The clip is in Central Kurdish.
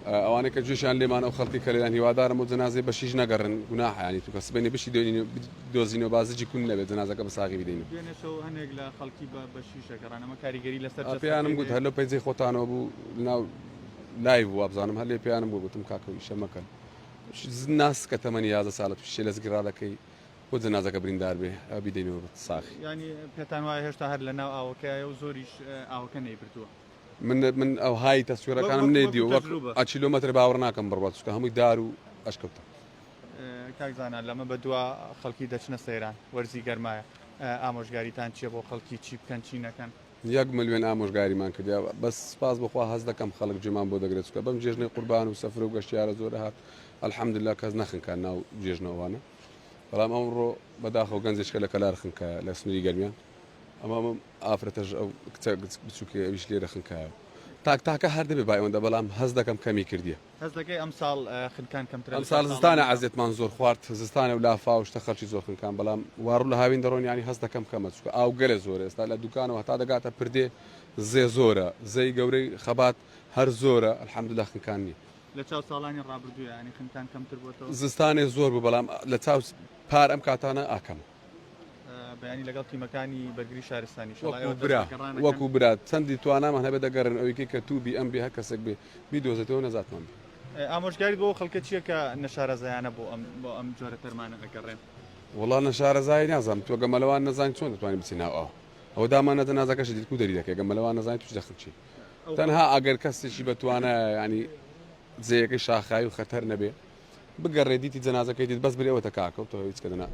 ئەوانەی کە جوێشیان لێمان ئەو خەڵکی کە لێدان هیوادارم و جەنازەی بەشیش نەگەڕن گوناحیانی توکە سبەینێ بشی دۆزینەوە با زجی کون نەبێت جەنازەکە بە ساغی بدەین و دوێنێشەوە هەندێک لە خەڵکی بە بەشیشە گەڕان ئەمە کاریگەری لەسەر پێیانم گوت هەر لەو پەیجەی خۆتانەوە بوو ناو لایڤ بوو وابزانم هەر لێ پێیانم گوت گوتم کاکە ئیشە مەکەن ناس کە تەمەنی یازە ساڵە تووشێ لە زگرا دەکەی بۆ جەنازەکە بریندار بێ ئەو بیدەینەوە بە ساخی ینی پێتان وایە هێشتا هەر لە ناو ئاوەکەیە و زۆریش ئاوەکە نەیبردووە من من ئەو های تەسویرەکانم نەیدیوە وەک ئەچیلۆمەتر باوەڕ ناکەم بڕوە چکە هەمووی دار و ئەشکەوتە کاکزانە لەمە بە دوا خەڵکی دەچنە سەیران وەرزی گەرمایە ئامۆژگاریتان چیە بۆ خەڵکی چی بکەن چی نەکەن یەک ملیۆن ئامۆژگاریمان کردیا بەس سپاس بخوا هەز دەکەم خەڵک جێمان بۆ دەگرێت چکە بەم جێژنەی قوربان و سەفر و گەشتیارە زۆر هات ئەلحەمدلا کەس نەخنکە ناو جێژنەوانە بەڵام ئەوڕۆ بەداخەوە گەنجێکە لە کەلار خنکە لە سنووری گەرمیان ئەمە ئەم ئافرەتەش ئەو کچە بچووکەی ئەویش لێرە خنکایەوە تاک تاکە هەر دەبێ با ئەوەندە بەڵام هەست دەکەم کەمی کردیە هەست دەکەی ئەمساڵ اه، خنکان کەمترە لەسەر ئەمساڵ زستانە ساڵانی عەزێتمان زۆر خوارد زستانە و لافا و شتە خەڵکی زۆر خنکان بەڵام واڕوو لە هاوین دەڕۆن یانی هەست دەکەم کەمە چکە ئاو گەلە زۆرە ئێستا لە دوکانەوە هەتا دەگاتە پردێ زێ زۆرە زەی گەورەی خەبات هەر زۆرە الحمدللە خنکان نییە لە چاو ساڵانی ڕابردوویانی خنکان کەمتر بۆتەوە؟ زستانێ زۆر بوو بەڵام لە چاو پار ئەم کاتانە ئا کەمە. بەیانی لەگەڵ تیمەکانی بەرگری شارستانی وەکو برا وەکو برا چەندی توانامان هەبێت دەگەڕێن ئەویکە کە تو بی ئەم بێ هە کەسێک بێ بیدۆزێتەوە نەزاتمان ئامۆژگاری بۆ خەڵکە چییە کە نەشارەزایانە بۆ ئەم بۆ ئەم جۆرە تەرمانە دەگەڕێن وڵا نەشارەزای نازانم تۆ گەمەلەوان نەزان چۆن دەتوانین بچیناو ئەو ئەو دامان نەدە نازەکەش دیکو دەری دەکە گەمەلەوان نەزانین توش دەخچی تەنها ئەگەر کەسێکی بەتوانە ینی جێیەکەی شاخایی و خەتەر نەبێ بگەڕێ دیتی جەنازەکەی دیت بەس برێوەتە کاکە و تۆ هیچ کە دەنا